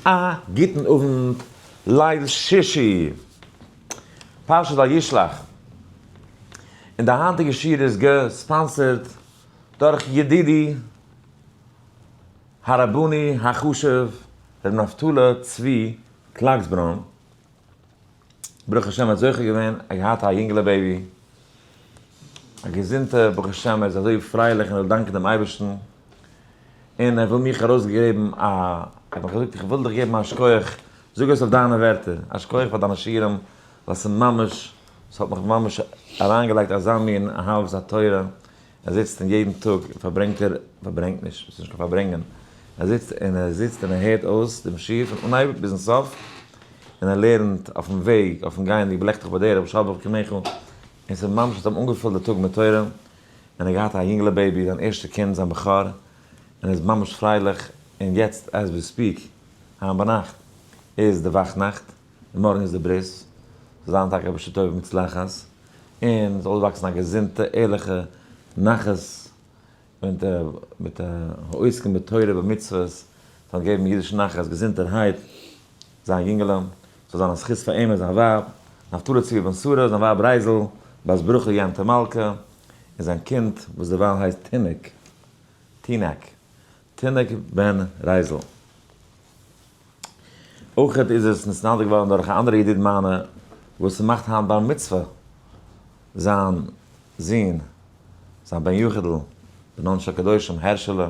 א גוטן אוונט, ליל שישי, פרשת וישלח, און די היינטיגע שיעור איז געספאנסערט דורך ידידי הרבני החשוב ר' נפתלי צבי קלאגסבראן, ברוך השם מ'האט זוכה געווען א געהאט א יונגעלע בעיבי, א געזונטע ברוך השם ער איז אזוי פרייליך און ער דאנקט דעם אייבערשטן, און ער וויל מיך ארויסגעבן א, ער האט מיך געזאגט איך וויל דיך געבן א שקויעך, זאג עס אויף דיינע ווערטער, א שקויעך פאר דיינע שיעורים, ווייל ס'ממש, ס'האט מיך ממש אריינגעלייגט אזא מין אהבת התורה. ער זיצט און יעדן טאג פארברענגט ער, פארברענגט נישט, ס'איז נישט קיין פארברענגען, ער זיצט און ער זיצט און ער הערט אויס דעם שיעור פון אנהייב ביזן סוף, און ער לערנט אויפן וועג, אויפן גייענדיג בלעכט זיך ביי די רבי שרבעכ ק מעכו, און ס'איז ממש האט אים אנגעפולט די טאג מיט תורה, און ער האט געהאט א יונגעלע בעיבי, זיין ערשטע קינד, זיין בכור, און ער איז ממש פרייליך, און יעצט עז ווי ספיעק, היינט ביינאכט איז די וואכנאכט, און מארגן איז די ברית, זאל זיין טאקע בשעה טובה ומוצלחת. און זאל אויסוואקסן א געזונטע ערליכע נחת און מיט מיט העוסקים בתורה ובמצוות זאלן געבן אידיש נחת געזונטערהייט זיין יונגעלע זאל זיין א זכות פאר אים און זיין ווייב נפתלי צבי בן שרה זיין ווייב רייזל בת ברוכ'ל יענטא מלכה און זיין קינד וואס דערווייל הייסט תינוק תינוק תינוק בן רייזל. אויך איז עס נתנדב געווארן דורך א אנדערע ידיד מיינע וואס מאכט היינט בר מצוה זיין זון זיין בן יחיד'ל בין אנ ש הקדושים הערשעלע,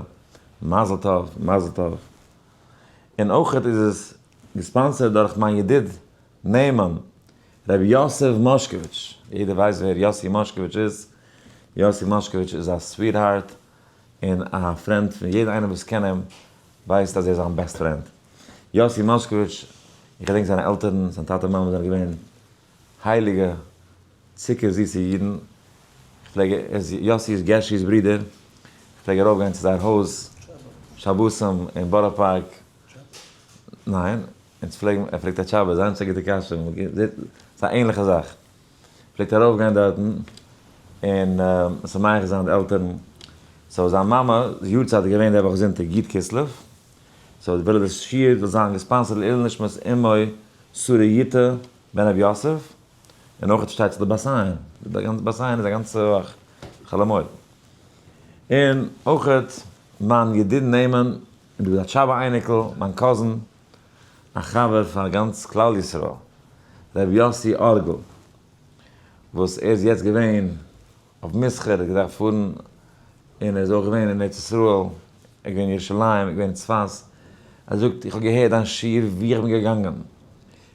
מזל טוב מזל טוב, און אויך איז עס געספאנסערט דורך מיין ידיד נאמן ר' יוסף מאשקאוויטש, יעדער ווייסט ווער יוסי מאשקאוויטש איז, יוסי מאשקאוויטש איז א סוויטהארט און א פרענד פון יעדער איינער וואס קען אים ווייסט אז ער איז זיין בעסט פרענד. יאסי מאשקאוויטש, איך געדענק זיינע עלטערן, זיין טאטע מאמע זענען געווען הייליגע צוקער זיסע אידן, איך פלעג, ער איז יאסי איז גערשי'ס ברודער, איך פלעג ארויף גיין צו זייער הויז שבתים אין בארא פארק, ניין? אונז פלעגן, ער פרעגט א תשובה, זיין צו א גוטע קשיא, זעט, ס'איז א ענליכע זאך. פלעגט ארויף גיין דארטן און משמח זיין די עלטערן, סאו זיין מאמע'ס יארצייט איז געווען די וואך זונטאג י' כסלו, סאו וויל ער די שיעור זאל זיין געספאנסערט לעילוי נשמת אמו שרה יוטה בן רבי יוסף, און אויך שטייט צו די באס איין, די גאנצע באס איין איז א גאנצע וואך חאלעמויל, און אויך מיין ידיד נאמן, און דא איז א טשאבא אייניקל, מיין קאזין, א חבר פאר גאנץ כלל ישראל ר' יאסי ארגל וואס ער איז יעצט געווען אויף מסחר ער האט געדארפט פארן און ער איז אויך געווען אין ארץ ישראל ער איז געווען אין ירושלים ער איז געווען אין צפת ער זאגט איך האב געהערט דיין שיעור ווי איך בין געגאנגען.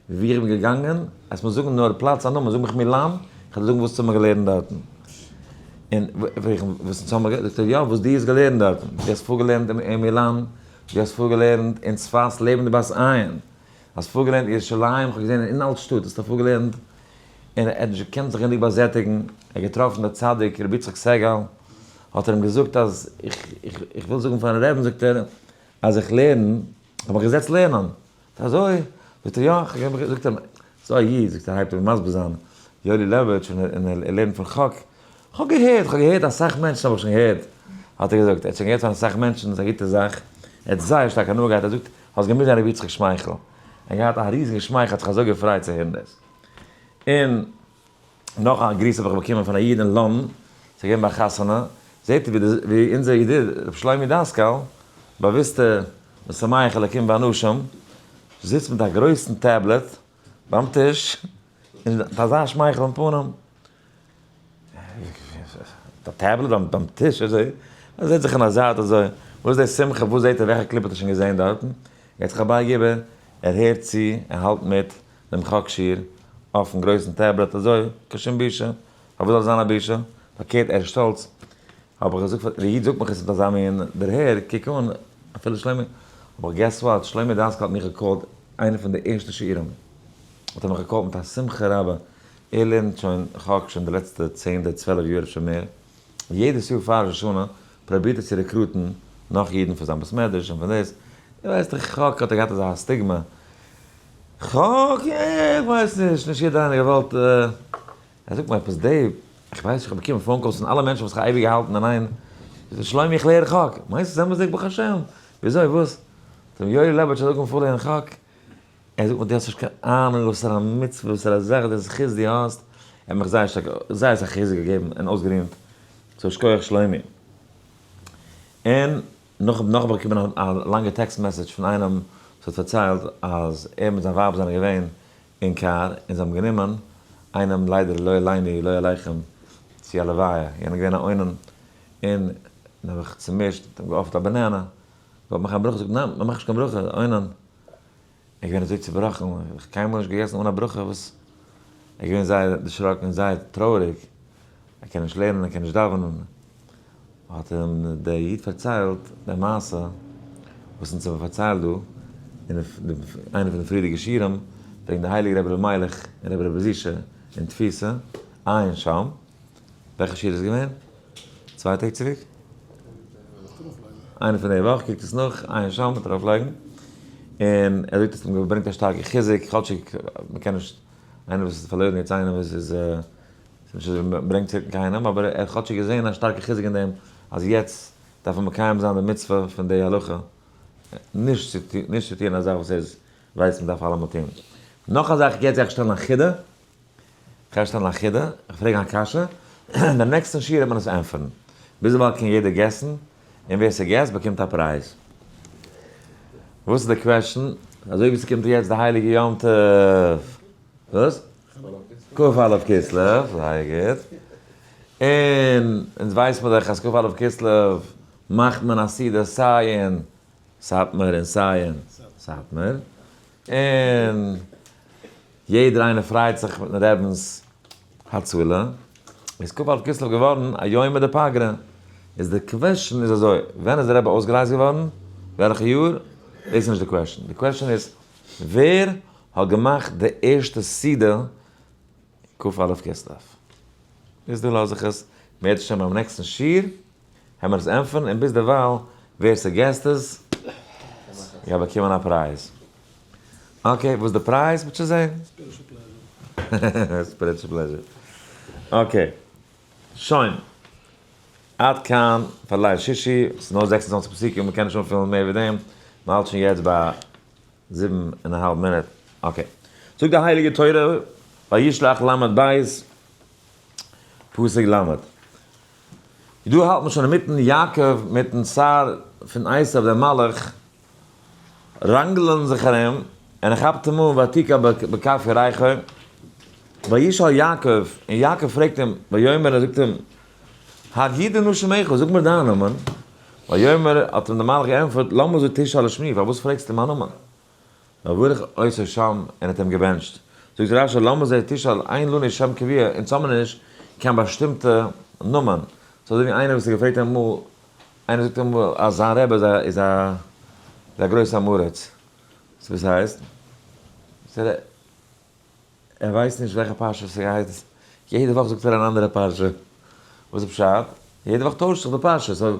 ווי איך בין געגאנגען, עס מוז זאגן נאר פלאץ א נאמען, זאג מיך מילאן, איך וועל דיר זאגן וואס צו האבן געלערנט דארטן. און פרעג איך אים, וואס צו האבן געלערנט? זאגט ער, יא, וואס דו האסט געלערנט דארטן. דו האסט פארגעלערנט אין מילאן, דו האסט פארגעלערנט אין צפת לעבן די בת עין, האסט פארגעלערנט אין ירושלים, איך האב געזען אין אלט שטאט האסטו פארגעלערנט, און ער האט נישט געקענט זיך גענוג באזעטיגן, ער האט געטראפן דער צדיק רבי יצחק סעגאל, האט ער אים געזאגט אז איך וויל זאגן פארן רעבן זאגט ער אז איך לערן, איך האב מיך געזעצט לערנען. אזוי? זאגט ער יא, איך האב געזאגט אים, ס'איז דא א איד, זאגט ער, הייבט אן מסביר זיין, יואלי לעבאוויטש, און ער לערנט פון חק, כ'האב געהערט, כ'האב געהערט, אסאך מענטשן האב איך שוין געהערט, האט ער געזאגט, ער האט שוין געהערט פון אסאך מענטשן, ס'איז א גוטע זאך, ער האט זייער שטארק הנאה געהאט, ער זאגט, האסט געמוזט זען ר' יצחק שמייכל, ער האט געהאט א ריזיגע שמייכל, ער האט זיך אזוי געפרייט צו הערן דאס, און. נאך א גריס האב איך באקומען פון א איד אין לאנדן, עס איז געווען ביי א חתונה, זעט איר ווי אונזער ידיד ר' שלומי דאסקאל, באוויסטע משמח אלקים באנשים, זיצט מיט א גרויסן טעבלעט ביים טיש, און מיט אזא שמייכל און פנים, מיט א טעבלעט ביים טיש אזוי, ער זעט זיך אין א זייט אזוי, וואס איז די שמחה, וואס זעט ער, וועלכע קליפ האט ער שוין געזען דארטן, גייט זיך ארבייגעבען, ער הערט צו, ער האלט מיט, דעם חק שיר אויפן גרויסן טעבלעט אזוי קיין שום בושה, פארוואס זאל עס זיין א בושה? פארקערט ער איז שטאלץ, האב איך געזאגט פאר די איד זאגט מיך עס מיט אזא מין דערהער, קוק אן אפילו שלומי, אבער געס וואט, שלומי דאסקאל האט מיך געקאלט איינע פון די ערשטע שיעורים האט ער מיך געקאלט מיט א שמחה רבה, ער לערנט שוין חק שוין די לעצטע צען אדער צוועלף יאר אפשר מער, יעדעס יאר פאר ראש השנה פרובירט ער צו רעקרוטן נאך אידן פאר זיין בית מדרש און פאר דאס, איר ווייסט דאך ח כ האט ער געהאט אזא סטיגמא, ח כ איך ווייס נישט, נישט יעדער איינער האט געוואלט, אה, זאג מיר עפעס דעיוו, איך ווייס איך האב באקומען פאון קאלס פון אלע מענטשן וואס איך האב אייביג געהאלטן אין איין, זאגט ער שלומי איך לערן ח כ, מיינסט עס אמת'דיג ברוך השם, וויאזוי וואס, זאג מיר יואלי לעבאוויטש האט אנגעהויבן פארלערנען ח כ. ער זאגט מיר די האסט נישט קיין אהנונג וואסערע מצוה וואסערע זאך די זכות די האסט, ער האט מיך זייער שטארק זייער אסאך חיזוק געגעבן און אויסגערינט, סאו שכוח שלומי. און נאך האב איך באקומען א לאנגע טעקסט מעסעדזש פון איינעם וואס האט פארציילט אז ער מיט זיין ווייב זענען געווען אין קאר און זיי האבן גענומען איינעם ליידער לא עלינו ולא עליכם צו א לוויה, יענער איז געווען א אונן און האב איך צומישט און געאפערט א באנענע, געוואלט מאכן א ברכה זאגט ניין מען מאכט נישט קיין ברכה אונן. ער איז געווען אזוי צובראכן, ער האט נאך קיינמאל נישט געגעסן אן א ברכה וואס, ער איז געווען זייער דערשראקן און זייער טרויעריג, ער קען נישט לערנען, ער קען נישט דאווענען, האט אים דער איד פארציילט די מעשה וואס אונז האבן פארציילט דא אין איינע פון די פריערדיגע שיעורים, וועגן די הייליגע רבי אלימלך און רבי רבי זישע אין תפיסה, עיין שם. וועלכע שיעור איז געווען? צוויי טעג צוריק? איינע פון די וואך, קוקט עס נאך, עיין שם, מען טאר ארויף לייגן, און ער זאגט אז מען ברענגט א שטארקע חיזוק, כאטשיג מען קען נישט, איינער וואס איז פארלוירן יעצט איינער וואס איז נישט אזוי ברענגט צוריק קיינעם, אבער ער האט כאטשיג געזען א שטארקע חיזוק אין דעם אז יעצט דארף מען מקיים זיין די מצוה פון די הלכה, נישט צו טון א זאך וואס ער ווייסט מען דארף אלעמאל טון. נאך א זאך, יעצט גיי איך שטעלן א חידה. איך הער שטעלן א חידה, איך פרעג א קשיא, און דעם נעקסטן שיעור וועט מען עס ענטפערן. ביזדערווייל קען יעדער געסן, און ווער ס'געסט באקומט א פרייז. וואס איז די קוועשן? אזוי ווי ס'קומט יעצט די הייליגע יום טוב. וואס? כ א אלף כסלו, זייער גוט. און אונז ווייסט מען דאך אז כ א אלף כסלו מאכט מען א סעודה סיי אין סאטמאר און סיי אין סאטמאר. און. יעדער איינער פרייט זיך מיטן רעבינס הצלה, איז כ ו אלף כסלו געווארן א יום מיט די פגרה, איז די קוועשען איז אזוי, ווען איז די רבי אויסגערייזט געווארן? וועלכע יאר? דאס איז נישט די קוועשען, די קוועשען איז ווער האט געמאכט די ערשטע סעודה כ ו אלף כסלו? איז דא לאז איך עס בעזהשם ביים נעקסטן שיעור. העמער עס ענטפערן און ביזדערווייל ווער ס'געסט עס גייט באקומען א פרייז. אקעי וואס די פרייז וועט שוין זעהן. ספיריטשעל פלעזשער. ספיריטשעל פלעזשער. אקעי. שוין. עד כאן פאר ליל שישי. ס'איז נאר זעקס און צוואַנציק פסוקים מ'קען נישט אנפילן מער ווי דעם. מ'האלט שוין יעצט ביי זיבן און א האלב מינוט. אקעי. זאגט די הייליגע תורה, וישלח ל' בית פסוק ל'. דא האלט מען שוין אינמיטן יעקב מיטן שר פון עשיו דער מלאך ראנגלען זיך ארום, און ער כאפט אים אן ותקע בכף ירכו, וישאל יעקב, און יעקב פרעגט אים, ויאמר און זאגט אים, הגי דנא שמך, זאג מיר דיין נאמען, ויאמר האט אים דער מלאך געענטפערט, למה זו תשאל לשמי, פארוואס פרעגסטו מיין נאמען? וברך עושה שם און האט אים געבענטשט. זאגט רש י למה זה תשאל אין לנו שם קביע אונז האמיר נישט קיין באשטימטע נאמען. ס'איז אזויווי איינער וואס האט געפרעגט אמאל, איינער זאגט אמאל אז זיין רבי איז א איז א איז א גרויסע עם הארץ. וואס הייסט? זאגט ער ער ווייסט נישט וועלכע פרשה ס'גייט, יעדע וואך זאגט ער אן אנדערע פרשה. וואס איז פשט? יעדע וואך טוישט זיך די פרשה. סאו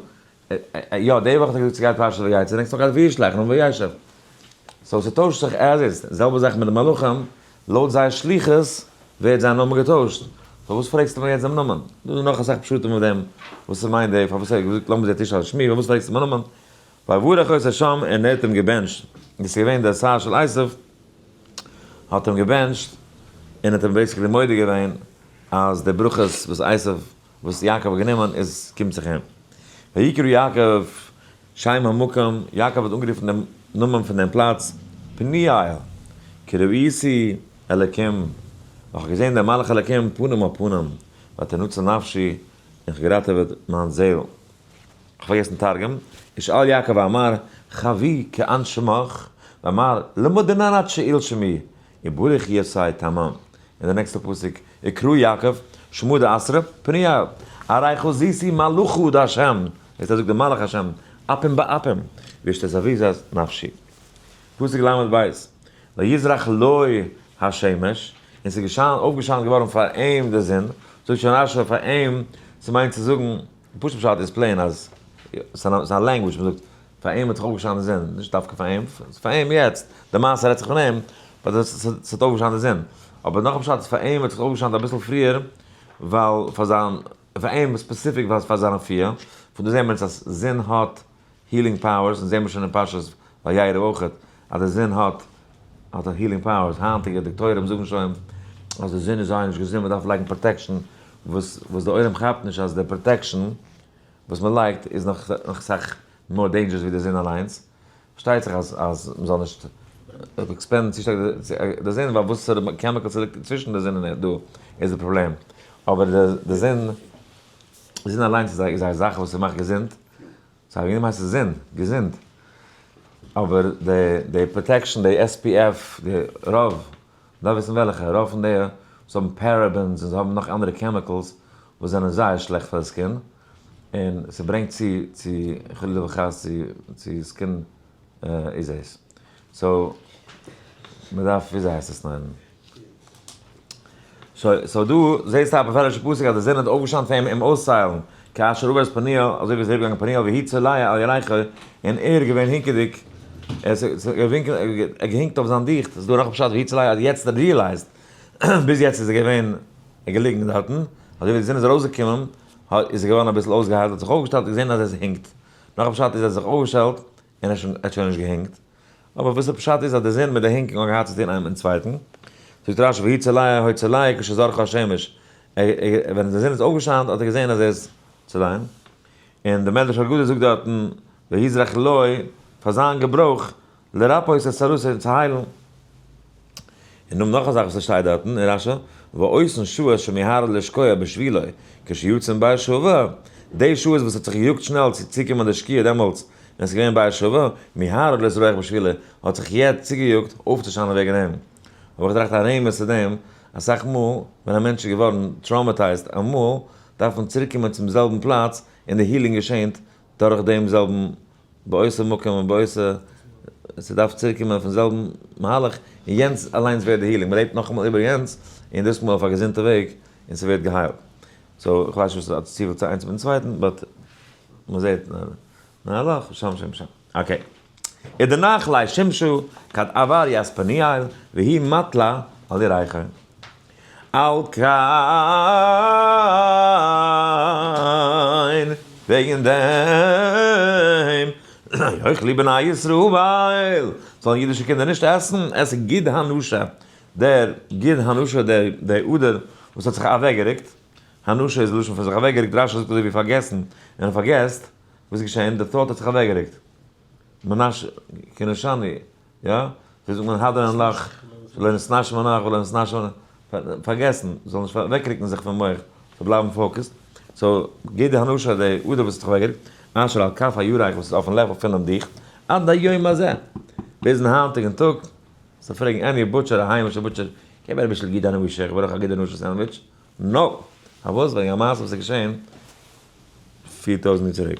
יא די וואך האט ער געזאגט סגייט פרשת ויצא נעקסט וואך גייט וישלח נו וישב סאו ס'טוישט זיך עז איז, די זעלבע זאך מיט די מלאכים לויט זייער שליחות ווערט זיין נאמען געטוישט סאו וואס פרעגסטו מיר יעצט דעם נאמען דא איז נאך אסאך פשטים אויף דעם וואס ס'מיינט די פארוואס ער האט געזאגט למה זה תשאל על שמי פארוואס פרעגסטו מיין נאמען ויברך את השם און ער האט אים געבענטשט דאס איז געווען די שר של עשיו האט אים געבענטשט און האט אים בעיסיקלי מודה געווען אז די ברכות וואס עשיו וואס יעקב האט גענומען איז קומט זיך אים. ויקרא יעקב שם המקום, יעקב האט אנגערופן דעם נאמען פון דעם פלאץ, פניאל, כי ראיתי אלקים, איך האב געזען דעם מלאך אלקים פנים אל פנים, ותנוצל נפשי, און כ'האב געראטעוועט מיין זעהל. כ'האב פארגעסן תרגום, ישאל יעקב ואמר, חבי' כען שמך? ואמר, למה דנן עד שאיל שמי? וברוך יעשי תמם, און די נעקסטע פסוק, יקרא יעקב שמו די עשרה פניו, הרי חזיתי מלכו די השם, וועסט אזוי די מלאך השם, אפים באפים, וישתזוויזז נפשי. פסוק ל ב, ויזרח לו השמש, און ס'איז געשיינט, אויפגעשיינט געווארן פאר אים די זון, זאגט שוין רשי פאר אים, ס'מיינט צו זאגן, די פשוטע פשט איז פלעין אז ס'איז א ס'איז א לענגוויטש מען זאגט פאר אים האט זיך אויפגעשאנען די זון, נישט דווקא פאר אים, פאר אים יעצט, די מעשה רעדט זיך פון אים, ס'האט אויפגעשאנען די זון, אבער נאך א פשט איז פאר אים האט זיך אויפגעשאנט אביסל פריער, ווייל פאר זיין, פאר אים ספעציפיק ווייל פאר זיין אפי', פון דא זעהן מיר אונז אז זון האט הילינג פאוערס, און זעמיר שוין אין פרשת וירא אויך אז די זון האט האט א הילינג פאוערס, היינטיגע דאקטוירים זאגן שוין אז די זון איז זייער נישט געזונט מ'דארף לייגן פראטעקשן, וואס וואס די עולם כאפט נישט אז די פראטעקשן וואס מ'לייגט איז נאך נאך סאך מאר דעינדזשערעס ווי די זון אליינס, פארשטייט זיך אז אז מ'זאל נישט עקספאנדן צו שטארק די זון ווייל וואסערע קעמיקעלס ס'ליגט אינצווישן די זון און ערד דא איז די פראבלעם, אבער די זון די זון אליינס איז א זאך וואס ס'מאכט געזונט סא יענעם הייסט עס זינד, געזונט. אבער די די פראטעקשן די עס פי עף די רוב, דארף וויסן וועלכע, רוב פון די וואס האבן פערעבענס און זיי האבן נאך אנדערע קעמיקעלס וואס זענען זייער שלעכט פאר די סקין, און ס'ברענגט צו צו חלילה וחס צו צו סקין איז עס. סאו, מ'דארף וויאזוי הייסט עס ליינען. סאו דא זעסטו א באפעלערשע פסוק אז די זון האט אויפגעשיינט פאר אים אים אויסצוהיילן, כאשר עבר את פניו, אזוי ווי עס איז אריבערגעגאנגען פניו, והי' צליה על ירכא, און ער איז געווען הינקעדיג, ער איז געהינקט אויף זיין דיכט, ס'איז דא נאך א פשט והי' צליה אז יעצט האט ער ריעלייזט, ביז יעצט איז ער געווען געליגן דארטן, אזוי ווי די זון איז ארויסגעקומען, איז ער געווארן אביסל אויסגעהיילט, האט זיך אויפגעשטעלט און געזען אז עס הינקט, נאך א פשט איז ער האט זיך אויפגעשטעלט און ער האט שוין נישט געהענגט, אבער וואס די פשט איז אז די זון מיט די הענגונג האבן געהאט צו טון איינעם מיטן צווייטן, זאגט רשב י צליה הוי צליה כשזרחה השמש, ער ער ווען די זון איז אויפגעשיינט האט ער געזען אז ער איז צוליין, און די מדרש אגדה זאגט דארטן והזרח לוי פאר זיין געברויך לרפא איז עס ארויס און צו היילן. און נאך נאך א זאך וואס עס שטייט דארטן אין רשי, ועושן שעות שמיהר לשקוע בשבילו כשיוצאים ביי שובע, די שעות וואס האט זיך געיאגט שנעל צו צוקומען די שקיעה דעמאלטס ווען עס איז געווען ביי שובע, מיהר לזרוח בשבילו, האט זיך יעצט צוגעיאגט אויפצושיינען וועגן אים. האב איך געטראכט א רמז צו דעם, אסאך מאל ווען א מענטש איז געווארן טראומעטייזד אמאל, דארף מען צוריקקומען צום זעלבן פלאץ און די הילינג געשענט דורך דעם זעלבן באותו מקום ובאותו ס'דארף צוריק קומען אויפן זעלבן מהלך, און יענץ אליינס ווערט די הילינג, מען רעדט נאכאמאל איבער יענץ, און דאס מאל אויף א געזונטע וועג, און ס'ווערט געהיילט. סאו, כ'ווייס נישט וואס האט צופיל צו איינס מיטן צווייטן, באט מ'זעט מהלך, ושם שם שם. אקעי. איז די נחלי שמשו כד עבר יעספניאל, והיא מתלה על ירחון. על כּן, וועגן דעם, אויך ליבע בני ישראל, זאָלן ייִדישע קינדער נישט עסן, עסן גיד הנשה, דער גיד הנשה, דער, דער אָדער, וואָס האָט זיך אַוועקגערוקט, הנשה איז לשון פֿון זיך אַוועקגערוקט, רשי זאָגט אַזוי ווי פֿאַרגעסן, ווען ער פֿאַרגעסט, וואָס איז געשען? דער טאָט האָט זיך אַוועקגערוקט. מנשה, כּנשני. יא? ווי זאגט מען האדער אין לאך, לא נתנשי מנח ולא נתנשי מנח, פארגעסן, זאל נישט אוועקרוקן זיך פון מח, זאל בלייבן פאוקעסד, סאו גיב די הנאה של די אדר וואס האט זיך אוועקגערוקט, אשר על כף הירך וואס איז אויפן לעוועל פונעם דיך, עד היום הזה, ביזן היינטיגן טאג, זאל פרעגן עני בוטשער א היימישע בוטשער, געב מיר אביסל גידענע ווי שיך ברויך א גידענע ווי שיך סענדוויטש, נאופ! פארוואס? וועגן א מעשה וואס איז געשען פֿיר טויזנט יאר צוריק.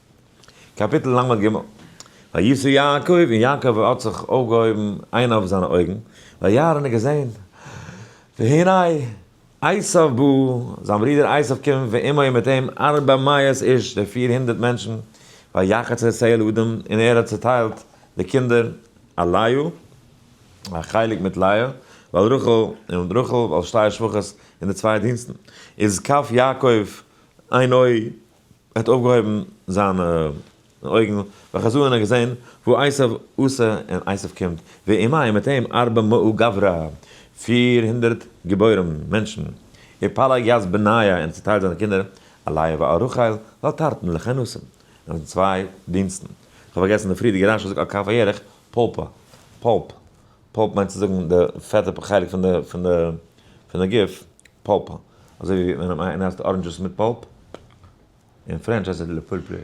קאפיטל לג, וישא יעקב, און יעקב האט זיך אויפגעהויבן איין אויף זיינע אויגן, וירא און ער האט געזען, והנה, עשיו בא, זיין ברודער עשיו קומט, ועמו און מיט אים ארבע מאות איש, די פיר הונדערט מענטשן, ויחץ עשיו אל אדם, און ער האט צעטיילט די קינדער אל לאה, א חלק מיט לאה, ואל רחל, און רחל, ועל שתי השפחות, און די צוויי דינסטן, איז קו יעקב איין אוי. ער האט אויפגעהויבן זיינע אויגן וחזר און ער האט געזען וואו עשיו עשה און עשיו קומט ועמו און מיט אים ארבע מאה גברא פיר הונדערט גיבורים מענטשן ופלג יז בניה און ער האט צוטיילט זיינע קינדער אליה וארחל ועל תרתן לכן נסים און זיי צוויי דינסטן. כ'האב פארגעסן די פריערדיגע רש י זאגט על כף הירך פלפא, פלפ. פּולפּ מיינט צו זאגן די פעטע חלק פון די פון די פון די גוף, פּולפּ. אזוי ווי ווען איינער עסט אראנדזשעס מיט פּולפּ, אין פרענטש הייסט עס לפולפרי.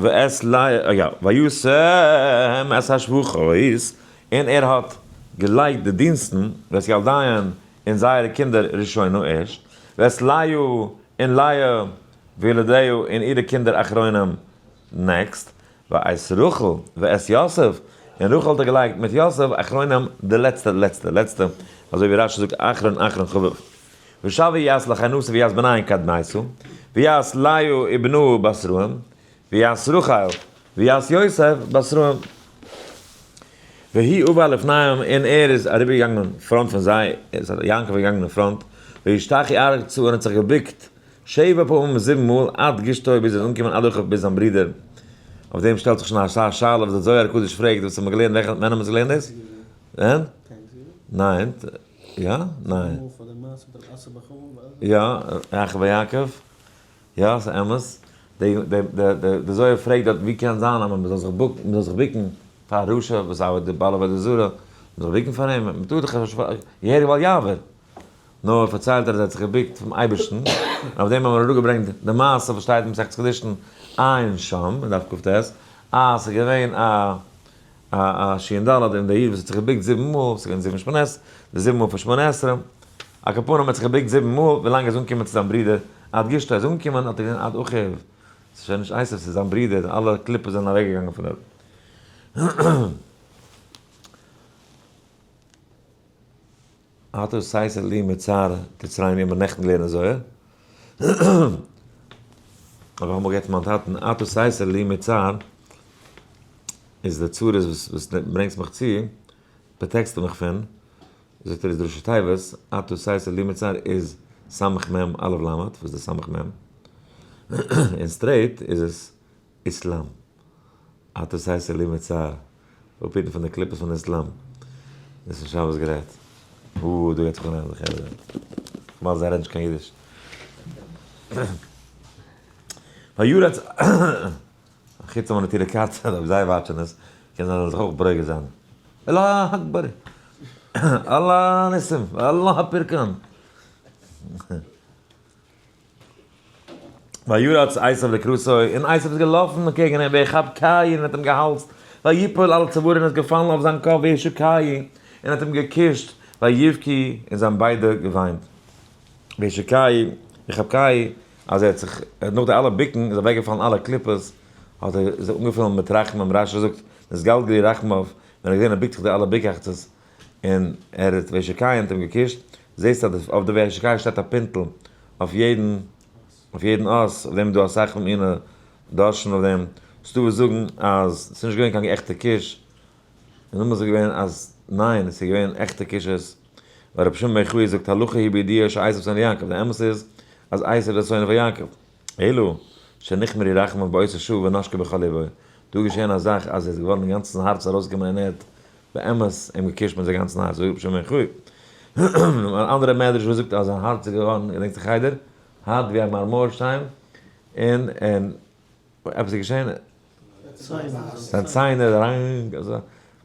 ואת ל א יא, וישם את השבחות, און ער האט געלייגט די דינסטן, ואת ילדיהן, און זייערע קינדער ראשונה ערשט, ואת לאה און לאה וילדיה און אירע קינדער אחרונים נעקסט, ואת רחל ואת יוסף, און רחל האט ער געלייגט מיט יוסף, אחרונים, די לעצטע לעצטע לעצטע, אזוי ווי רש י זאגט אחרון אחרון חביב. ושב ויעש לחינוסה ויעש בנין קדמייסו, ויעש לאה ובנה בשרהם, ויעש רחל ויעש יוסף בשרהם. והיא ובא לפניהם, און ער איז אריבערגעגאנגען פארנט פון זיי, יעקב איז געגאנגען אין פראנט, וישתחי ארצה, און האט זיך געבוקט שבע פעמים זיבן מאל עד גשתו ביז ער איז אנגעקומען אדורך אויף ביז זיין ברודער, אויף דעם שטעלט זיך שוין א סאך שאלות וואס דער זוהר הקדוש פרעגט וואס האט מען געלערנט וועלכע ווען האט מען עס געלערנט דאס? ווען? ניין יא? ניין יא יעקב ויעקב יא ס'איז אמת די די די די זוהר פרעגט דארט ווי קען זיין אז מ'זאל זיך בוק מ'זאל זיך בוקן פאר רשע וואס ארבעט די בעל עבודה זרה מ'זאל בוקן פאר אים מ'טאר דאך געהעריג בל יעבור. נאר פארציילט ער אז ער האט זיך געבוקט פאר'ן אייבערשטן, און אויף דעם האבן מיר אראפגעברענגט די מעשה וואס שטייט אין מסכת קידושין עיין שם אין דף קט, אז ס'איז געווען א א א שי ד אין דער עיר וואס האט זיך געבוקט זיבן מאל, ס'איז געווען זיבן שמונת, די זיבן מאל פון שמונה עשרה, על כל פנים ער האט זיך געבוקט זיבן מאל ווילאנג ער איז אנגעקומען צו זיין ברודער, עד גשתו איז אנגעקומען האט ער געזען עד אחיו, ס'איז שוין נישט עשו, ס'איז זיין ברודער, אלע קליפות זענען אוועק געגאנגען פון דארט. אתה עשית לי מצער תצריין ווי מ'האט נעכטן געלערנט אין זוהר. האב איך אמאל גערעדט פון מיין טאטן, אתה עשית לי מצער איז די צרות וואס וואס די ברענגסט מיך צו, פראטעקסטו מיך פון, זאגט ער איז די ראשי תיבות, אתה עשית לי מצער איז סמ מ אלף למד, וואס איז די סמ מ? און סטרעיט איז עס איסלאם. אט דאס הייסט עלי מצער, אפהיטן פון די קליפות פון איסלאם. דאס פון שבת גערעדט. הו הו, דא גייט זיך אנהייבן די חרם. כ'מיין זיי רעדן נישט קיין אידיש. פאריאר האט זיך, חוץ מיינע טעלעקארטער אויב זיי וואטשען עס, קען זיין זאל זיך אויך ברוגז זיין. אללאה אקבאר! אללאה ניסים! אללאה פורקאן! וירוץ עשיו לקראתו, און עשיו איז געלאפן אנטקעגן אים, ויחב קין, און האט אים געהאלזט, ויפול על צווארו, און איז געפאלן אויף זיין קאפ, וישא קין, און האט אים געקושט, ויבכי, און זיי האבן ביידע געוויינט. וישא קין, ויחב קין, אז ער האט זיך, נאך די אלע בוקן, איז אוועקגעפאלן אלע קליפות, האט ער זיך אנגעפילן מיט רחמים, רש י זאגט, נתגלגל לי רחמיו, ווען ער האט געזען ער בוקט זיך די אלע בוקעכצעס, און ער האט וועש אקעי אונטערן געקושט, זעהסט אז אויף די וועש אקעי שטייט א פינטל אויף יעדן אויף יעדן אות, אויף דעם איז דא אסאך פון מיני דרשנים אויף דעם, ס'דא וואס זאגן אז ס'איז נישט געווען קיין עכטע קוש, און דער מאמר איז געווען אז ניין ס'איז געווען עכטע קושיות, ווייל רבי שמעון בן יוחאי זאגט הלכה היא בידיעה שעשיו שונא יעקב, די אמת איז אז עשיו איז א שונא פון יעקב. אלא שנכמר איר רחמיו בעושה ש ונשקה בכל לבו, דא איז געשען א זאך אז ער איז געווארן אינגאנצן הארץ ארויסגעקומען און ער האט באמת אים געקושט מיט זיין גאנצן הארץ זאגט רבי שמעון בן יוחאי, אן אנדערע מדרש וואס זאגט אז זיין הארץ איז געווארן געדענקט זיך איידער הארט ווי א מארמארשטיין און עפעס איז געשען. זיין ציין איז אריין אזוי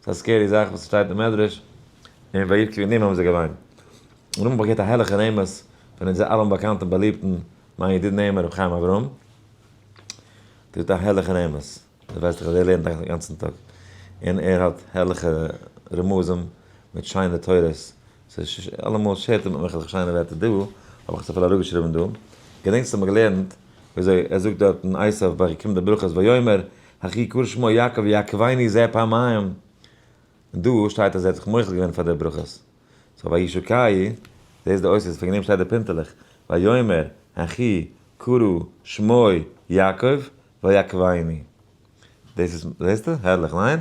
ס'איז א סקערי זאך וואס שטייט אין מדרש און וירק וועגן דעם האבן זיי געוויינט און האבן באגערט א הערליכע נעימות פון אונזער אלעמען באקאנטן באליבטן מיין ידיד נעימות ר' חיים אברהם טוט א הערליכע נעימות דו ווייסט דאך אז ער לערנט א גאנצן טאג און ער האט הערליכע רמזים מיט שיינע תורות ס'איז אלעמאל שער טומעט מיך אז איך שיינע ווערטער דא, האב איך עס אפילו אראפגעשריבן דא. געדענקסט האמיר געלערנט וויאזוי ער זאגט דארט אין עשיו ביי כ ק די ברכות ויאמר הכי קרא שמו יעקב יעקבני ז ע פעמיים, און דא שטייט אז ער האט זיך מוחל געווען פאר די ברכות. סאו וישא כ י, דאס איז די אותיות וועגן דעם שטייט דא פונטעלעך ויאמר הכי קרא שמו יעקב ויעקבני. דאס איז, זעסטו? הערליך, ניין?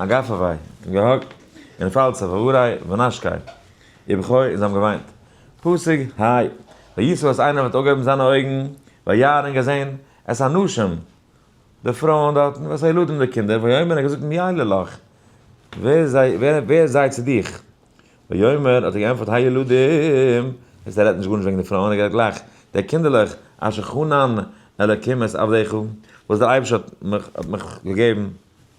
אַ גאַף אַ װײ און געהאָק און פֿאַלץ אַ װאָרײ ונאַשקײ איר בכור און זײ האָבן געװײנט פּסוק ה' װיסעו אַז אײנער װעט אױפֿגעהױבן זײַנע אױגן װײַער און געזען את הנשים די פֿרױען דאָרטן ואת הילדים די קינדער װיאָמר ער האָט געזאָגט מײילה לך װער זײ װער זײ צו דיך װיאָמר האָט ער געענטפֿערט ה' ילדים איצט ער רעדט נישט גאָרנישט װעגן די פֿרױען ער גערעדט גלײַך די קינדערלעך אשר חנן אלקים את עבדיך װאָס דער אײבערשטער האָט מיך האָט מיך געגעבן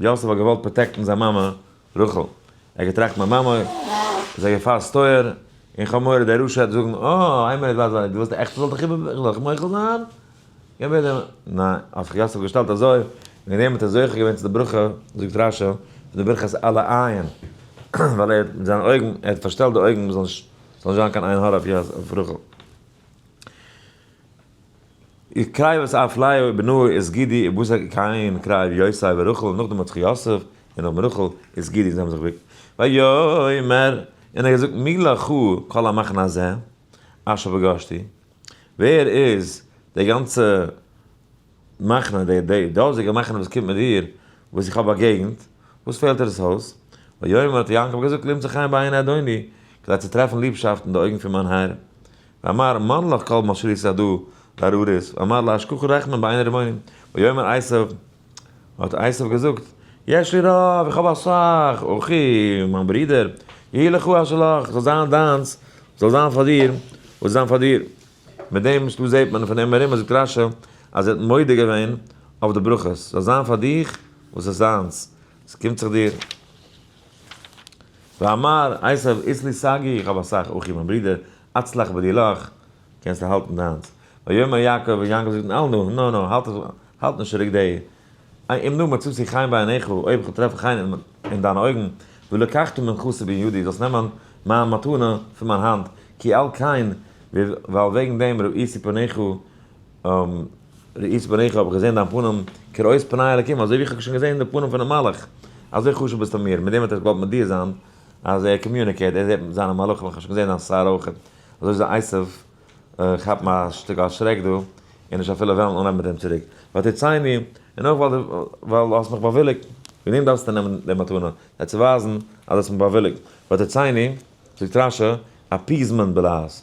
יוסף האט געוואלט פראטעקטן זיין מאמע רחל, ער האט געטראכט מיין מאמע איז א געפאר ס'איז טויער, און כ'האב מורא דער רשע העט זאגן, אה, איין מינוט ווייז מיר, דו ווילסט עכט כ'זאל דיך איבער, כ'זאל דיך מוחל זיין? גיי בעט דעם, ניין, האט זיך יוסף געשטעלט אזוי, און ווען יענער האט עס זוכה געווען צו די ברכה, זאגט רשי, פון די ברכת אלה עין, ווייל ער האט מיט זיינע אויגן, ער האט פארשטעלט די אויגן, ס'זאל נישט זיין קיין עין הרע אויף רחל. איז קרייב וואס אף לאה און בנה איז גידי און בשר קען קרייב יוסף און רחל און נאכדעם האט זיך יוסף און נאכדעם רחל איז גידי און זיי האבן זיך געוויגט ויאמר און ער האט געזאגט מי לך כל המחנה הזה אשר פגשתי ווער איז די גאנצע מחנה די די דאזיגע מחנה וואס קומט מיט דיר וואס איך האב באגעגנט וואס פעלט דיר עס אויס ויאמר האט יעקב געזאגט למצוא חן בעיני אדוני כדי צו טרעפן ליבשאפט אין די אויגן פון מיין האר ואמר מן לך כל מה שרית עדו בארורית ואמר לה אשכחו רחמים בעיני רבוני ויאמר עשיו האט עשיו געזאגט יש לי רב איך האב אסאך אחי מיין ברודער יהי לך אשר לך זאל זיין דיינס זאל זיין פאר דיר וואס זיין פאר דיר מיט דעם שטות זעהט מען פון דעם ארום אז זאגט רשי אז ער האט מודה געווען אויף די ברכות זאל זיין פאר דיך וואס איז זיינס ס'קומט זיך דיר. ואמר עשיו איז לי סגי איך האב אסאך אחים מיין ברודער אצלח בידי לך קענסט האלטן דיינס ויאמר יעקב און יעקב זאגט אל נא נא נא האלט האלט נישט צוריק די אם נא מצאתי חן בעיניך אויב כ'וועל טרעפן חן אין דיינע אויגן ולקחת מנכסי בין ידי זאלסט נעמען מיין מתנה פון מיין האנט כי על כן ווייל וועגן דעם ראיתי פניך ראיתי את פניך, האב איך געזען דיין פנים, כראות פני אלקים, אזוי ווי איך האב שוין געזען די פנים פונעם מלאך, אזוי חשוב ביסטו מיר, מיט דעם האט ער געוואלט מודיע זיין אז ער קאמיוניקעט, ער זעט זיינע מלאכים, איך האב שוין געזען דיין שיער אויך, אזוי איז די עשו כאפן א שטיקל א שרעק דא, און נישט אפילו וועלן אנהייבן מיט אים צוריק, ותצייני, און אויך ווייל דו האסט מיך באוויליגט, וועגן דעם דארפסטו נעמען די מתנה, זיי צו ווייזן אז דו האסט מיך באוויליגט, ותצייני, זאגט רשי, אפיעזמענט בלעז.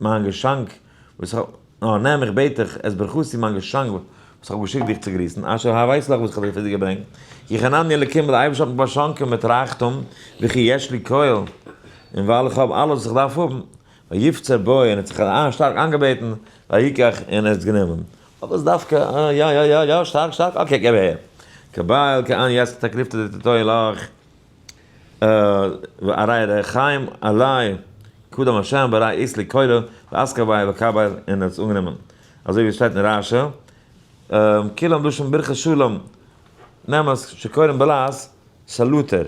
מיין געשאנק וואס איך האב, נאר נעם איך בעט דיך עס ברכתי מיין געשאנק וואס איך האב געשיקט דיך צו גריסן, אשר ה ווייסט דאך וואס איך האב דיר פון דיר געברענגט, כי חנני אלקים ווייל די אייבערשטער האט מיך באשאנקען מיט רייכטום, וכי יש לי כל, און ווייל איך האב אלעס וואס איך דארף האבן, ויפצר בי און ער האט זיך שטארק איינגעבעטן, ויקח און ער האט עס גענומען. אויב איז דווקא יא יא יא יא שטארק שטארק אקעי געב אהער, קבל קען יעצט תקריב תתתו אליך. והרי ר' חיים אלי' קדם השם ברא איז לקולא ועסקא ביה וקבל און האט עס אנגענומען אזוי ווי עס שטייט אין רשי כולם דרשו ברכת שלום נעם עס שקוראים בלעז סאלוטער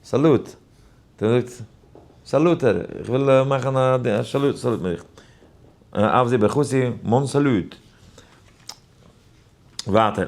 סאלוט דער זאגט סאלוטער איך וויל מאכן א סאלוט סאלוט מיך אוו זי ברכותי מאן סאלוט ווייטער.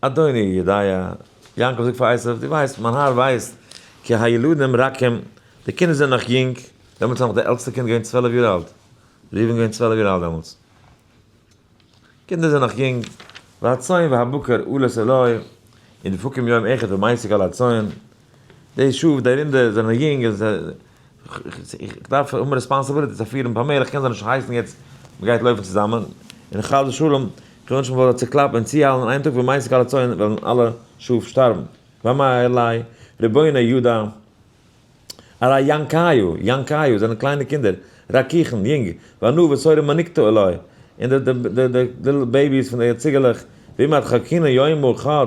אדוני יודי', יעקב זאגט פאר עשו, דו ווייסט, מיין האר ווייסט, כי הילדים רכים, די קינדער זענען נאך יונג, דעמאלטס איז נאך די עלטסטע קינד געווען צוועלף יאר אלט, ראובן איז געווען צוועלף יאר אלט דעמאלטס, קינדער זענען נאך יונג, והצאן והבקר עלות עליו, און דפוקים יום אחד ומעסיק על הצאן, די שעה וואס די רינדער זענען יונג און איך דארף האבן רעספאנסעביליטיס אויף פיר און פאר מער, איך קען זיי נישט הייסן יעצט מען גייט לויפן צוזאמען, און חס ושלום איך וויל נישט מען זאל זיי צעקלאפן און צוהיילן אין איין טאג ווען מייסד קאלע צאן וועלן אלע שאף שטארבן, ואמר אלי רבינו יודא אריי יענקאיו, יענקאיו, זענען קליינע קינדער, רקיחן, יונג, ואנו בשורה מניקתא אלי, און די די די די ליטל בעיביס פון די ציגעלעך, ואם אתחכינו יום אחד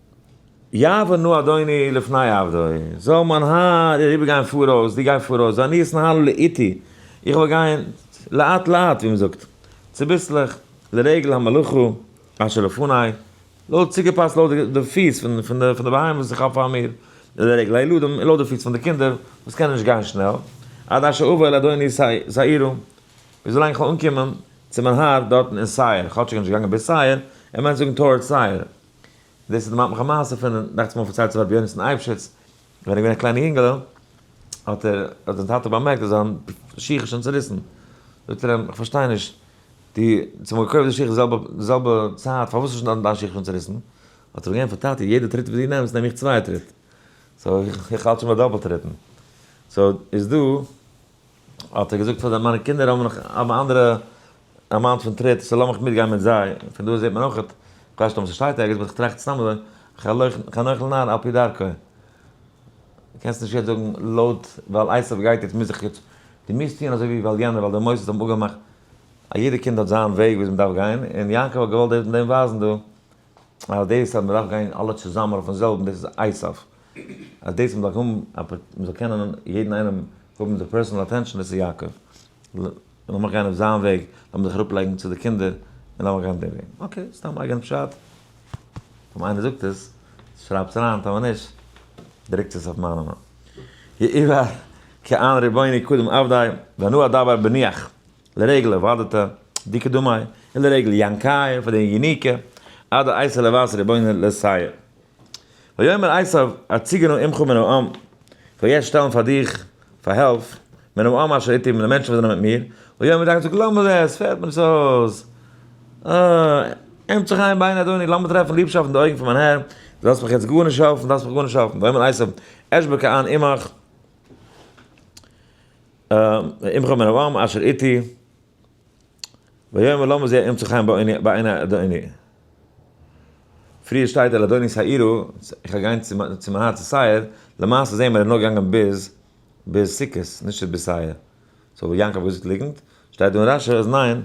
יעבור נא אדוני לפני עבדו, זאל מיין האר אריבערגיין פאראויס, דו גיי פאראויס, ואני אתנהל לאיטי, איך וועל גיין לאט לאט, ווי מען זאגט, צוביסלעך, לרגל המלאכה אשר לפני, לויט צוגעפאסט לויט די פיס פון די בהמה וואס איך האב פאר מיר, לרגל הילדים, און לויט די פיס פון די קינדער וואס קענען נישט גיין שנעל, עד אשר אבוא אל אדוני שעירו, ביז ווילאנג איך וועל אנקומען צו מיין האר דארטן אין שעיר, כאטש איך בין נישט געגאנגען ביז שעיר, ער מיינט זאגן טאוערדס שעיר. דאס דערמאנט מיך א מעשה פון, דאכצעך מיר פארציילט הרב יונתן אייבשיץ, ווען ער איז געווען א קליינע יונגעלע, האט ער, האט זיין טאטע באמערקט אז זיין שיך איז שוין צוריסן, זאגט ער אים, איך פארשטיי נישט, דו האסט מיר געקויפט די שיך די זעלבע, די זעלבע צייט, פארוואס איז שוין דיין שיך שוין צוריסן? האט ער אים געענטפערט, טאטע, יעדע טריט וואס דו נעמסט נעם איך צוויי טריט, סאו איך האלט שוין ביי דאפעלט טריטן. סאו איז דא. האט ער געזאגט פאר מיינע קינדער האבן נאך האבן אנדערע א מאן פון טריט סאו לאמיך מיטגיין מיט זיי, פון דא זעט מען אויכעט, כ'ווייס נישט אויב ס'שטייט ערגעץ באט כ'טראכט סתם אזוי, חנוך לנער על פי דרכו, קענסט נישט יעצט זאגן לויט ווייל עשו גייט יעצט מוז איך יעצט, דו מוזט טון אזוי ווי ווייל יענער ווייל די מוסדות האבן אפגעמאכט, א יעדע קינד האט זיין וועג ווי אזוי מ'דארף גיין, און יעקב האט געוואלט דאס מיט דעם ווייזן דא, אז דאס אז מען דארף גיין אלע צוזאמען אויפן זעלבן דאס איז אייסאף, אז דאס אז מען דארף האבן א פ מען זאל קענען יעדן איינעם האבן די פערסאנעל אטענשאן דאס איז יעקב, לאמיך גיין אויף זיין וועג, לאמיר זיך אראפ לייגן צו די קינדער און לאמיר גיין דעם וועג, אקעי סתם אייגענע פשט, טאמער איינער זאגט עס שרייבטס אריין טאמער נישט דרוקטס עס אויף מיינע יעיבאר כעין רבוני קדם אוודאי ואנא אדבר בניח לרגל אבידתא דקדמאי ולרגל יאנקאי פאר די יוניקע עד האייסע לבשר רבינו לסייע. ויאמר עשיו הציגנו עמך מן העם, כ'וועל יעצט שטעלן פאר דיך פאר העלף מן העם אשר איתי פון די מענטשן וואס זענען מיט מיר, אוי האבן די דאקטערס געזאגט לאמיר זען עס פעלט מיר נישט אויס, אה, עמך צו חיים בעיני אדוני, לאמיר טרעפן ליבשאפט אין די אויגן פון מיין הער, דו זאלסט מיך יעצט גארנישט העלפן, דארפסט מיך גארנישט העלפן, ויאמר עשיו אשבע ק אן עמך. אמחה מרבם אשר איתי ויאמר למה זה אמצע חן בעיני אדוני. פריער שטייט על אדוני שעירו, איך וועל גיין צו מיין הארץ שעיר, למעשה זעהן מיר ער איז נאר געגאנגען ביז ביז סוכות נישט ביז שעיר, סאו יעקב איז ליגנט, שטייט דא אין רשי אז ניין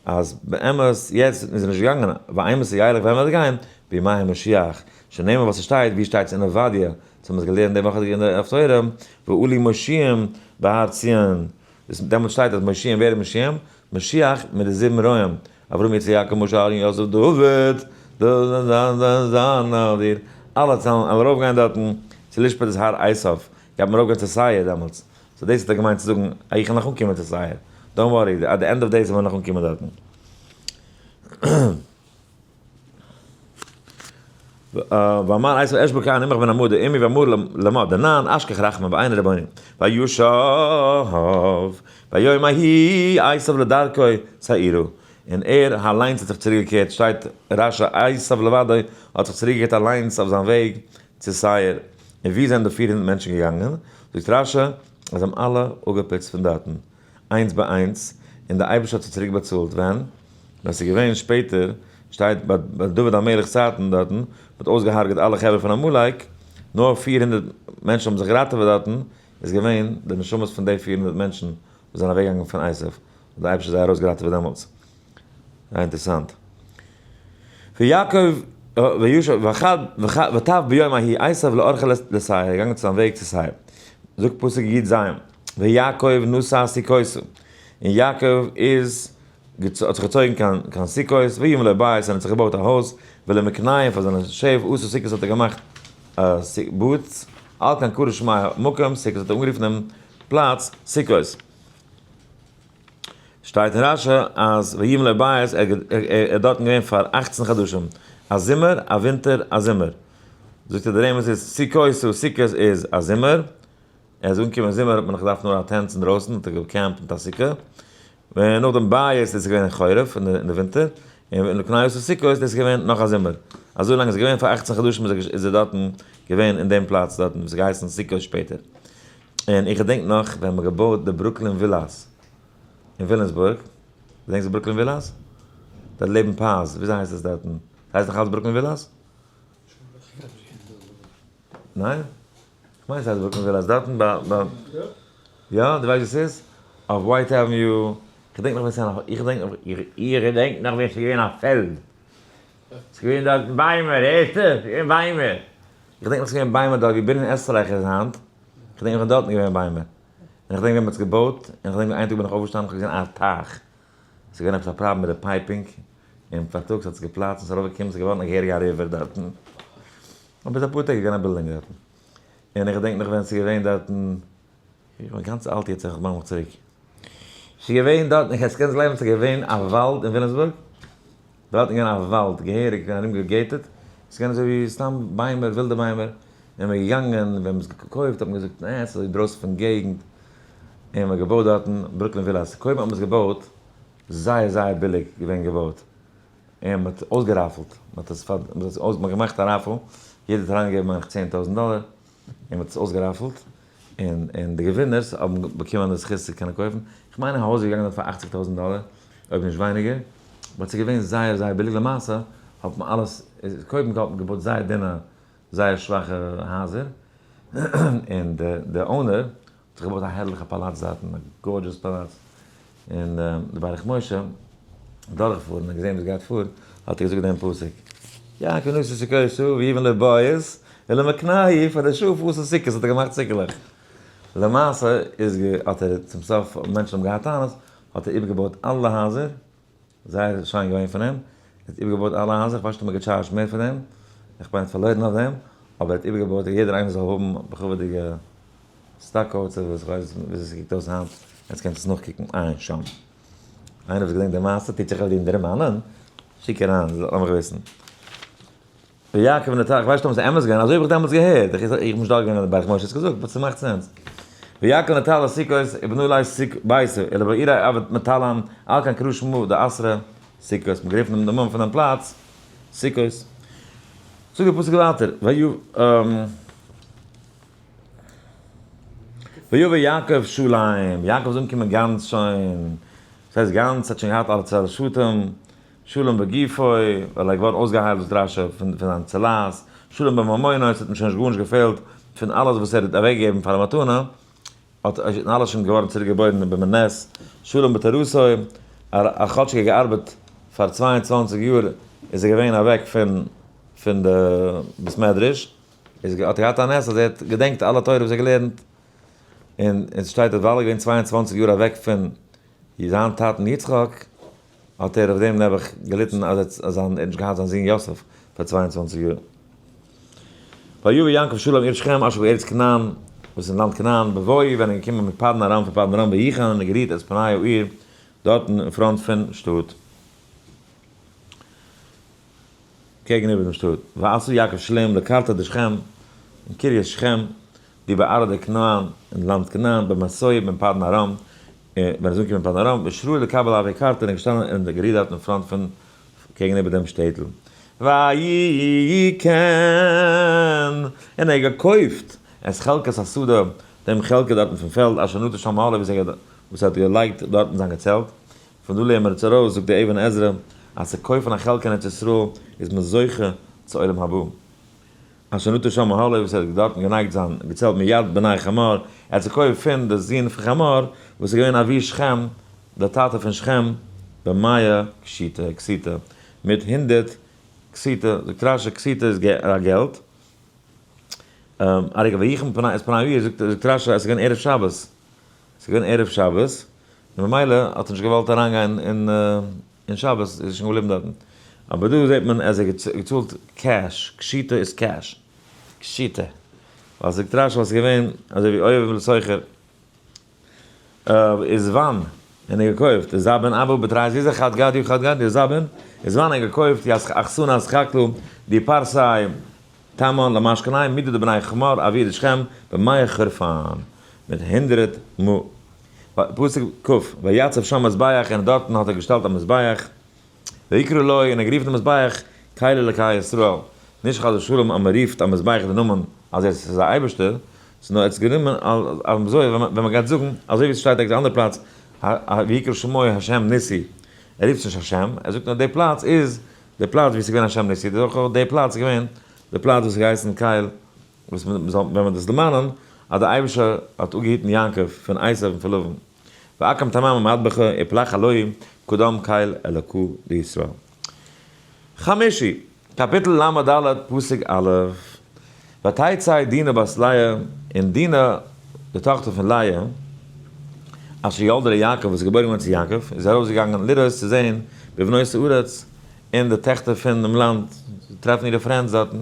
אז באמת יעצט איז ער נישט געגאנגען, ווייל עמער ס'גייערליך וועלן מיר גיין, בימי המשיח, שנאמר וואס ס'שטייט, ווי שטייט עס אין עובדיה, וואס מ'האט געלערנט די וואך אין דף תורה, ועלו מושיעים בהר ציון, דאס דעמאלטס שטייט אז מושיעים, ווער איז מושיעים? משיח מיט די זיבן רועים, אברהם יצחק יעקב משה אהרן יוסף דוד, אלע צאמען, עמער ארויפגיין דארטן, צו לשפט את הר עשיו, גייט מען ארויפגיין צו סייר דעמאלטס, סאו דאס האט ער געמיינט צו זאגן אז איך וועל נאך אנקומען צו סעיער, דאנט ווארי, עט די ענד אוו דעיס וועל איך נאך אנקומען דארטן. ואמר איז אש בוקעה אני מכוון עמוד עמי ואמור למה דנן אשכח רחמים ואיין רבנים וישוב ביום ההיא עשיו לדרכו צעירו און ער אליינס האט זיך צוריק געקערט שטייט רשע עשיו לבדו האט זיך צוריק געקערט אליינס אויף זיין וועג צו סעיר, און וואו זענען די פֿיר הונדערט מענטשן געגאנגען? זאגט רשי, אז זיי האבן אלע אפגעפוצט פון דארטן, איינס ביי איינס, און דער אייבערשטער האט זיי צוריק באצאלט. ווען? ווען עס איז געווען שפעטער, שטייט ביי דוד המלך'ס צייטן דארטן, מען האט אויסגעהארגעט אלע חברה פון עמלק, נאר פֿיר הונדערט מענטשן האבן זיך געראטעוועט דארטן, איז געווען די נשמות פון די פֿיר הונדערט מענטשן וואס זענען אוועקגעגאנגען פון עשיו, האט די אייבערשטער זיי ארויס געראטעוועט פון דעמאלטס. זייער אינטערסאנט. ויעקב וישב ותב ביום ההיא עשו לארכה לסי' ער איז געגאנגען צו זיין וועג צו סי'. זאגט פסוק י ז. ויעקב נסע סוכותו און יעקב איז האט זיך געצויגן קיין קיין סוכות ויבנה לו בית און האט זיך געבויט א הויז ולמקנאים פאר זיינע שעף עשה סוכות האט ער געמאכט א באד על כן קרא שמה מקום סוכות האט ער אנגערופן דעם פלאץ סוכות. שטייט אין רש י אז ויבן לבית ער איז דארטן געווען פאר אכצן חדשים, א זומער, א ווינטער, א זומער. זאגט ער די רמז איז סוכות סאו סוכות איז א זומער, ער איז אנגעקומען זומער האט מען נאך געדארפט נאר א טענט אינדרויסן האט ער געקעמפט מיט א סוכה, און נאכדעם בית איז עס געווען חורף אין די ווינטער, און לקניות און סוכות דאס איז געווען נאך א זומער. אזוי לאנג עס איז געווען פאר אכצן חדשים איז ער דארטן געווען אין דעם פלאץ דארטן וואס האט געהייסן סוכות שפעטער. און איך געדענק נאך ווען מען געבויט די ברוקלין ווילאס אין וויליאמסבורג, געדענקסט די ברוקלין ווילאס? דארט לעבן פאזש, וויאזוי הייסט עס דארטן? עס הייסט נאך אלץ ברוקלין ווילאס? ניין? כ'מיין עס הייסט ברוקלין ווילאס, דארטן ביי ביי, יא? דו ווייסט ווי עס איז? אויף ווייט עוועניו, כ'דענק נאך ווען עס איז נאך, איך דענק נאך, איך געדענק נאך ווען עס איז געווען א פעלד, עס איז געווען דארטן ביימער, הערסטו? עס איז געווען ביימער, איך דענק נאך עס איז געווען ביימער דארט ווי בנין עסטרייך איז היינט, כ'דענק איך בין דארטן געווען ביימער, און איך דענק ווען מ'האט עס געבויט, און כ'דענק ווי איין טאג בין איך אויפגעשטאנען כ'האב געזען א טייך, ס'איז געווען עפעס א פראבלעם מיט די פייפינג, און פארטאגס האט עס געפלאצט און ס'איז ארויפגעקומען ס'איז געווארן א געהעריגע א ריווער דארטן, און ביז אפאר טעג איז געווען א בילדינג דארטן, און איך געדענק נאך ווען ס'איז געווען דארטן, איך בין גאנץ אלט יעצט איך דארף מיך צוריק, ס'איז געווען דארטן, קענסט גלייבן ס'איז געווען א וואלד אין וויליאמסבורג? דארטן געווען א וואלד, געהעריג ארום געגעטעד, עס איז געווען אזוי ווי סתם ביימער, ווילדע ביימער, און מען איז געגאנגען, ווען מען האט עס געקויפט האט מען געזאגט נע, עס איז אינדרויסן פון געגנט, און מען האט געבויט דארטן ברוקלין ווילאס, קודם האט מען עס געבויט זייער זייער ביליג געווען געבויט, און מען האט אויסגעראפעלט, מען האט עס פאר, מען האט געמאכט א ראפעל, יעדער האט אריינגעגעבן מיין איך צען טויזענט דאלער, און מען האט עס אויסגעראפעלט, און און די געווינערס האבן באקומען די זכות צו קענען קויפן, איך מיין א הויז איז געגאנגען דארט פאר אכציג טויזנט דאלער, אויב נישט ווייניגער, באט ס'איז געווען זייער זייער ביליג, למעשה האט מען אלעס, קודם האט מען געבויט זייער דינע זייער שוואכע הייזער, און די אונער זיך געבויט א הערליכע פאלאץ דארטן, א גארדזשעס פאלאץ, און די ברך משה דורך פארן און געזען וואס גייט פאר, האט ער געזאגט דעם פסוק, יעקב נשא סוכותו ויבן לבית ולמקנהו, פאר די שאף האסן סוכות האט ער געמאכט סוכה'לעך, למעשה איז האט ער צום סוף, מענטשן האבן געהאט טענות, האט ער איבערגעבויט אלע הייזער, זייער שיין געווען פון אים, ער האט איבערגעבויט אלע הייזער, כ'ווייס נישט צו מ'האט געטשארזשט מער פון אים, איך בין פארלוירן אויף דעם, אבער ער האט איבערגעבויט אז יעדער איינער זאל האבן בכבוד'יגע סטאקאוטס אדער וואס כ'ווייס נישט וויאזוי ס'קוקט אויס היינט, עטס קענט עס נאכקוקן עיין שם. איינער וואס געדענקט די מעשה טוט זיך אויף דיר דערמאנען? שיק אריין, לאמעך וויסן. ר' יעקב נטע, איך ווייס נישט אויב עס איז אמת געווען, אזוי האב איך דעמאלטס געהערט, איך איך בין נישט דארט געווען אין די בית משה, האסט געזאגט באט ס'מאכט סענס. ר' יעקב נטע לא סוכות איבן אולי סוג בית אלא בעיר האבות מטאלאן, על כן קרא שמו די עשרה סוכות, מ'האט גערופן אים די נאמען פון דעם פלאץ סוכות. זאגט דער פסוק ווייטער ויו ו ויבא יעקב שלום, יעקב איז אנגעקומען גאנץ שוין, דאס הייסט גאנץ, ער האט שוין געהאט אלע צרה שטים, שלום בגופו, ווייל ער איז געווארן אויסגעהיילט דאס דרשה פון פון זיין צלה'ס, שלום בממונו, עס האט אים שוין נישט גארנישט געפעלט פון אלעס וואס ער האט אוועק געגעבן פאר א מתנה, האט איז שוין אלעס שוין געווארן צוריק געבוירן במנס, שלום בתורתו, ער האט כאטשיג ער געארבעט פאר צוויי און צוואַנציק יאר איז ער געווען אוועק פון פון די בית מדרש, איז האט ער געהאט א נס אז ער האט געדענקט אלע תורה וואס ער געלערנט, און און ס'שטייט אז ווייל ער איז געווען צוויי און צוואַנציק יאר אוועק פון זיין טאטן יצחק, האט ער אויף דעם נעבעך געליטן אז ער האט נישט געהאט זיין זון יוסף פאר צוויי און צוואַנציק יאר. ויבא יעקב שלום עיר שכם אשר בארץ כנען, וואס איז אין לאנד כנען, בבואו ווען ער איז געקומען מפדן ארם פון פדן ארם ויחן און ער האט גערירט את פני העיר דארטן אין פראנט פון שטאט. קעגן איבער דעם שטאט, ועשו יעקב שלום לקרתא דשכם, און קרית שכם, ווי ביי ארדה כנען, אין לאנד כנען, בין מסעי ובין פדן ארם, און ווען ער איז אנגעקומען פדן ארם, ושרוי לקבל אהבי קרתא, און ער איז געשטאנען אין די גערידארט אין פראנט פון, קעגן איבער דעם שטעטל. ויהי כן, און ער האט געקויפט, את חלקת השדה, דעם חלקה דארטן פון פעלד, אשר נטע שם אהלי, וואס ער האט געלייגט דארטן זיין געצעלט, פון דא לערנמער אונז ארויס, זאגט דער אבן עזרא, אז צו קויפן א חלקה אין ארץ ישראל איז מען זוכה צו עולם הבא. אשר נטע שם האלף, וואס ער האט דארטן גענייגט זיין געצעלט מיד בני חמור, ער האט זיך קויפט פון די זון פון חמור, וואס איז געווען אבי שכם, דער טאטע פון שכם, במאה קשיתא, כסיתא, מיט הונדערט כסיתא, זאגט רש י כסיתא איז א געלט, א רגע, ויחם פני, איז פני איר, זאגט רש י עס איז געווען ערב שבת. ס'איז געווען ערב שבת, און במילא האט ער נישט געוואלט אריינגיין אין שבת, איז ער שוין געבליבן דארטן. אבער דא זעט מען אז ער האט געצאלט קעש, קשיטה איז קעש. קשיטה. ווייל ס'איז געטראשט ווייל ס'איז געווען אזוי ווי אוהב לסוחר. איז וואן ער געקויפט? איז זאב אין אבו בתרייז איז ער חד גדיא חד גדיא זאב אין? איז וואן ער געקויפט די אכסנא אסכקלא די פארסיי? תימן, למש קנאים, מידי דבני חמור, אוויר דשכם, במאי חרפן, מיט הונדרעט מ. פסוק כ, ויצב שם מזבח, און דארטן האט ער געשטעלט א מזבח, ויקרא לו, און ער גערופן דעם מזבח, קהל אלקי ישראל, נישט חס ושלום אז מען רופט א מזבח די נאמען אז עס איז א אייבערשטער, ס'איז נאר עטס גענומען אזוי ווען מען גייט זאגן, אזוי ווי עס שטייט ערגעץ א אנדער פלאץ, ויקרא שמו ה' ניסי, ער רופט נישט השם, ער זאגט נאר די פלאץ איז די פלאץ ווי עס איז געווען השם ניסי דאך אויך די פלאץ געווען די פלאץ וואס האט געהייסן קייל וואס מען זאל ווען מען דאס דערמאנען אז די אייבישער האט אפגעהיטן יעקב פון עשיו און פון לבן ואקם תמם ומטבחו יפלח אלהים קדם קייל אלקו לישראל חמישי קאפיטל למה ד' פסוק א' ותצא דינה בת לאה, און דינה די טאכטער פון לאה, אשר ילדה ליעקב, וואס איז געבוירן געווארן צו יעקב, איז ארויסגעגאנגען לראות צו זען בבנות הארץ, אין די טעכטער פון דעם לאנד, צו טרעפן אירע פרענדס דארטן,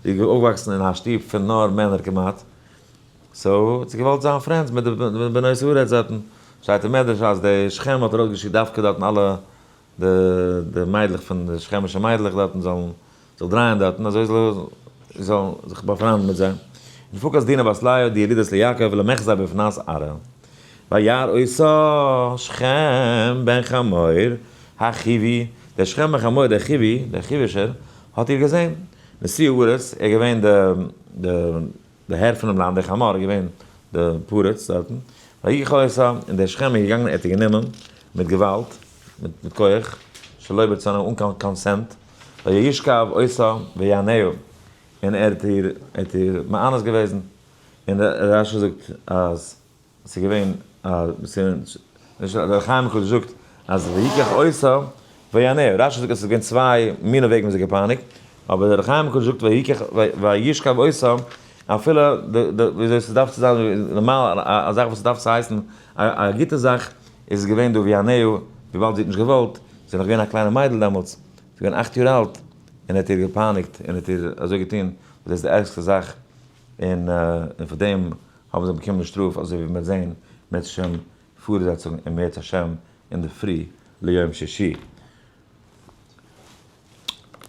זי איז אויפגעוואקסן אין א שטוב פון נאר מענער כמעט, סאו האט זי געוואלט זיין פרענדס מיט די בנות הארץ דארטן, שטייט אין מדרש אז די שכן האט ארויסגעשיקט דווקא דארטן אלע די מיידלעך פון די שכמישע מיידלעך דארטן זאלן זאל דרייען דארטן אזוי זאל ער זאל זיך באפריינדן מיט זיי, ופקד דינא בת לאה די ילידת ליעקב ולמחזר בבנת ארעל וירא אותה שכם בן חמור החיווי, דער שכם בן חמור דער חיווי, דער חיווישער, האט איר געזען, נשיא הארץ, ער איז געווען די די די הער פונעם לאנד, דער חמור איז געווען די פרץ דארטן, ויגע ח אותה, און דער שכם איז געגאנגען ער האט איר גענומען מיט געוואלד, מיט מיט כח, שלא ברצונה אן קיין קאנסענט, וישכב עושה ויענהו, און ער האט איר מאנוס געוועזן, און רש י זאגט אז ס'איז געווען א, דער חיים הק' זאגט אז ויקח עושה ויענהו, רש י זאגט אז ס'איז געווען צוויי מיני וועגן ווי זי האט געפייניגט, אבער דער חיים הק' זאגט וישכב עושה, אפילו וויאזוי ס'דארף צו זיין נארמאל, א זאך וואס ס'דארף צו הייסן א גוטע זאך, איז עס געווען דא ווי אנעהו, וויבאלד זי האט נישט געוואלט, זי איז נאך געווען א קליינע מיידל דעמאלטס, זי איז געווען אכט יאר אלט, און ער האט איר געפייניגט, און האט איר אזוי געטון, וואס דאס איז די ערגסטע זאך, און און פאר דעם האבן זיי באקומען די שטראף, אזוי ווי מען וועט זען בעזהשי ת אין פארזעצונג אם ירצה השם אינדערפרי ליום שישי.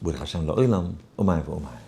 ברוך השם לעולם, אמן ואמן.